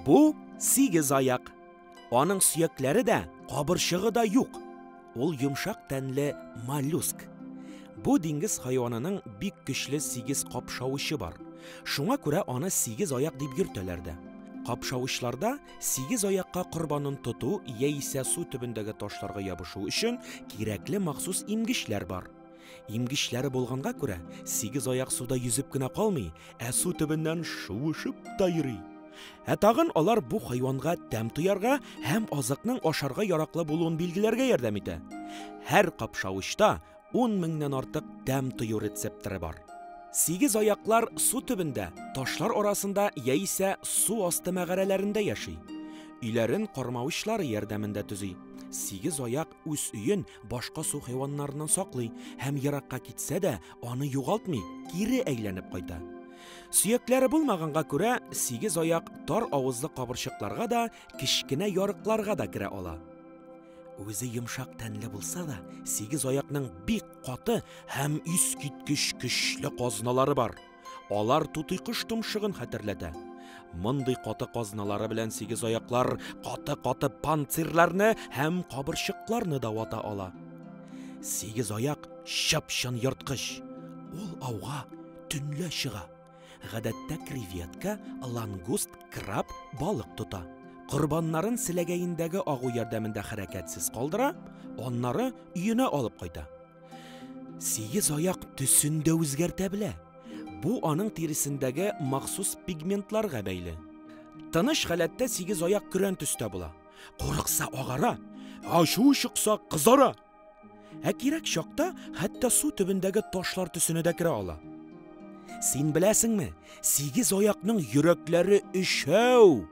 Бу сигез аяк. Аның сөякләре дә, кабырчыгы да юк. Ул йомшак тәнле моллюск. Бу диңгез хайванының бик көчле сигез капшавычы бар. Шуңа күрә аны сигез аяк дип йөртәләр дә. Капшавычларда Сигез аякка корбанын тоту яисә су төбендәге ташларга ябышу өчен кирәкле махсус имгечләр бар. Имгечләре булганга күрә, сигез аяк суда йөзеп кенә калмый, ә су төбеннән шуышып та йөри. Ә тагын алар бу хайванга тәм тоярга һәм азыкның ашарга яраклы булуын билгеләргә ярдәм итә. Һәр капшавычта 10 меңнән артык тәм тою рецепторы бар. Сигез аяклар су төбендә, ташлар арасында яисә су асты мәгарәләрендә яши. Өйләрен кармавычлары ярдәмендә төзи. Сигез аяк үз өен башка су хайваннарыннан саклый һәм еракка китсә дә, аны югалтмый, кире әйләнеп кайта. Сөякләре булмаганга күрә, сигез аяк тар авызлы кабырчыкларга да, кечкенә ярыкларга да керә ала. Үзе йомшак тәнле булса да, сигез аякның бик каты һәм искиткеч көчле казналары бар. Алар тутый кош томшыгын хәтерләтә. Мондый каты казналары белән сигез аяклар каты-каты панцирларны һәм кабырчыкларны да вата ала. Сигез аяк чып-чын ерткыч. Ул ауга төнлә чыга. Гадәттә креветка, лангуст, краб, балык тота. Корбаннарын селәгәендәге агу ярдәмендә хәрәкәтсез калдыра, аннары өенә алып кайта. Сигез аяк төсен дә үзгәртә белә. Бу аның тиресендәге махсус пигментларга бәйле. Тыныч халәттә сигез аяк көрән төстә була. Курыкса агара, ачу чыкса кызара. Ә кирәк чакта хәтта су төбендәге ташлар төсенә дә керә ала. Син беләсеңме, сигез аякның йөрәкләре өчәү.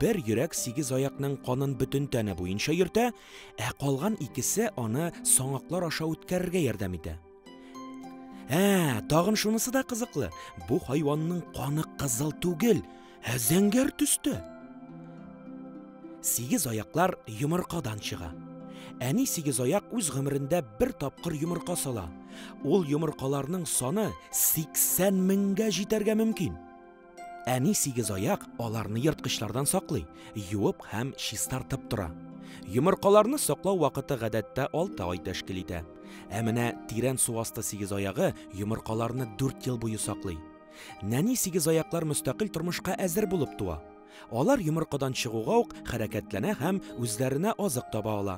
Бер йөрәк сигез аякның канын бөтен тәне буенча йөртә, ә калган икесе аны саңаклар аша үткәрергә ярдәм итә. Ә, тагын шунысы да кызыклы. Бу хайванның каны кызыл түгел, ә зәңгәр төстә. Сигез аяклар йомыркадан чыга. Әни сигез аяк үз гомерендә бер тапкыр йомырка сала. Ул йомыркаларның саны 80 меңгә җитәргә мөмкин. Әни сигезаяк аларны ерткычлардан саклый, юып һәм чистартып тора. Йомыркаларны саклау вакыты гадәттә 6 ай тәшкил итә. Ә менә тирән су асты сигезаягы йомыркаларны 4 ел буе саклый. Нәни сигезаяклар мөстәкыйль тормышка әзер булып туа. Алар йомыркадан чыгуга ук хәрәкәтләнә һәм үзләренә азык таба ала.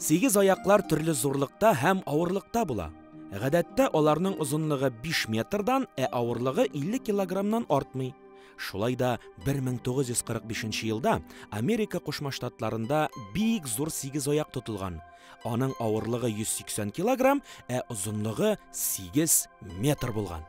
Сигез аяклар төрле зурлыкта һәм авырлыкта була. Гадәттә аларның озынлыгы 5 метрдан, ә авырлыгы 50 килограммнан артмый. Шулай да 1945 елда Америка Кушма Штатларында бик зур сигез аяк тотылган. Аның авырлыгы 180 килограмм, ә озынлыгы 8 метр булган.